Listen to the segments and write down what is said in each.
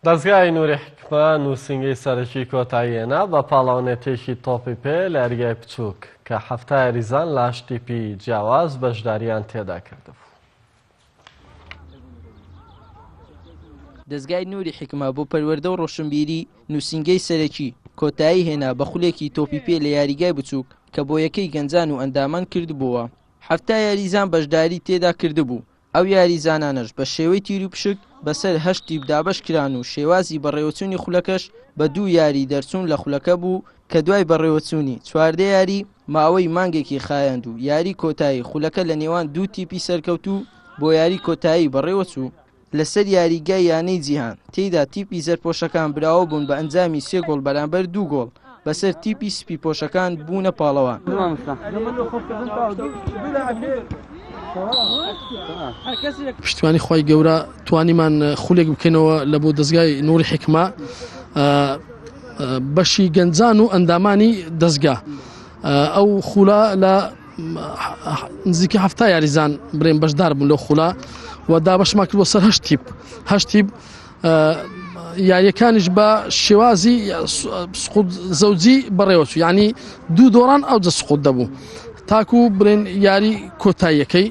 دەزگای نوری حیکمە نووسینگەی سەرەکی کۆتایی هێنا بە پاڵەوانێتییەکی تۆپی پێ لە یاریگای بچووک، کە حەفتا یاریزان لە هەشت تیپی جیاواز بەشدارییان تێدا کردبوو. دەزگای نوری حیکمە بۆ پەروەردە و ڕۆشنبیری نووسینگەی سەرەکی کۆتایی هێنا بە خولێکی تۆپی پێ لە یاریگای بچووک، کە بۆیەکەی گەنجان و ئەندامان کردبۆوە. حەفتا یاریزان بەشداری تێدا کردبوو، ئەو یاریزانانەش بە شێوەی تیروپشک بەسەر هەشت تیپ دابەش کران و شێوازی بەڕێوەچوونی خولەکەش بە دوو یاری دەرچوون لە خولەکە بوو کە دوای بەڕێوەچوونی چواردە یاری ماوەی مانگێکی خایاند و یاری کۆتایی خولەکە لە نێوان دوو تیپی سەرکەوتوو بۆ یاری کۆتایی بەڕێوەچوو. لەسەر یاریگای یانەی جیهان تێیدا تیپی زەردپۆشەکان براوە بوون بە ئەنجامی سێ گۆڵ بەرامبەر دوو گۆڵ بەسەر تیپی سپی پۆشەکان بوونە پاڵەوان. پشتیوانی خوای گەورە توانیمان خولێک بکەینەوە لە بۆ دەستگای نوری حکمە بەشی گەنجان و ئەندامانی دەستگا ئەو خولا لە نزیکە هەفتا یاریزان برێن بەشدار بوون لەو خولا و دابەشماکردوە سەر هەشتیب هەشتیب یاریەکانیش بە شێوازی سقوت زەوجی بەڕێوەچوو یعنی دوو دۆڕان ئەو جە سقوت دەبوو تاکو برێن یاری کۆتاییەکەی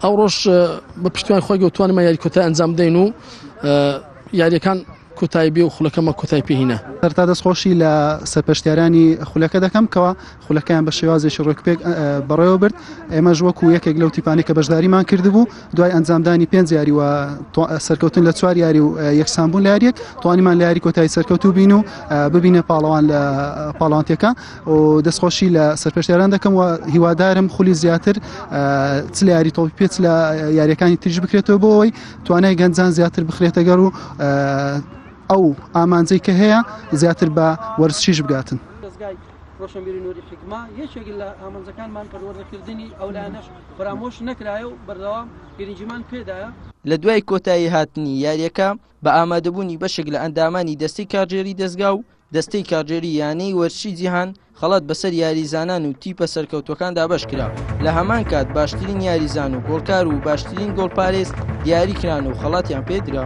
ئەو ڕۆژ بە پشتیوان خۆی گەوتوانمە یاری کۆتای ئەنجام دەین و یاریەکان کوتای بێ و خولەکەمە کوتای پێهینە هەرتا دەستخۆشی لە سەرپەشتیارانی خولەکە دەکەم کەەوە خولەکەیان بە شێوازێکی ڕێکوپێک بەڕێوە برد ئێمەش وەکو یەکێک لەو تیپانی کە بەشداریمان کردبوو دوای ئەنجامدانی پێنج یاری و سەرکەوتن لە چوار یاری و یەکسانبوون لاریەک توانیمان لە یاری کۆتایی سەرکەوت و بین و ببینە پاڵەوان لە پاڵانتەکە و دەستخۆشی لە سەرپێشتێران دەکەم و هیوادارم خولی زیاتر چ لە یاری تۆپی پێچ لە یاریەکانی تریش بکرێتەوە بۆ ئەوەی توانای گەنجان زیاتر بخرێتەگەر و ئەو ئامانجەی کە هەیە زیاتر بە وەرزشیش بگاتن. ڕۆشنبیری نوری حیکما یەکێک لە ئامانجەکانمان پەروەردەکردنی ئەو لایەنەش فرامۆش نەکرایە و بەردەوام گرنگیمان پێدایە. لە دوای کۆتایی هاتنی یارییەکە، بە ئامادەبوونی بەشێک لە ئەندامانی دەستەی کارگێری دەزگا و دەستەی کارگێری یانەی وەرزشی جیهان، خەڵات بەسەر یاریزانان و تیپە سەرکەوتووەکاندا بەشکرا، لە هەمان کات باشترین یاریزان و گۆڵکار و باشترین گۆڵپارێز دیاریکران و خەڵاتیان پێدرا.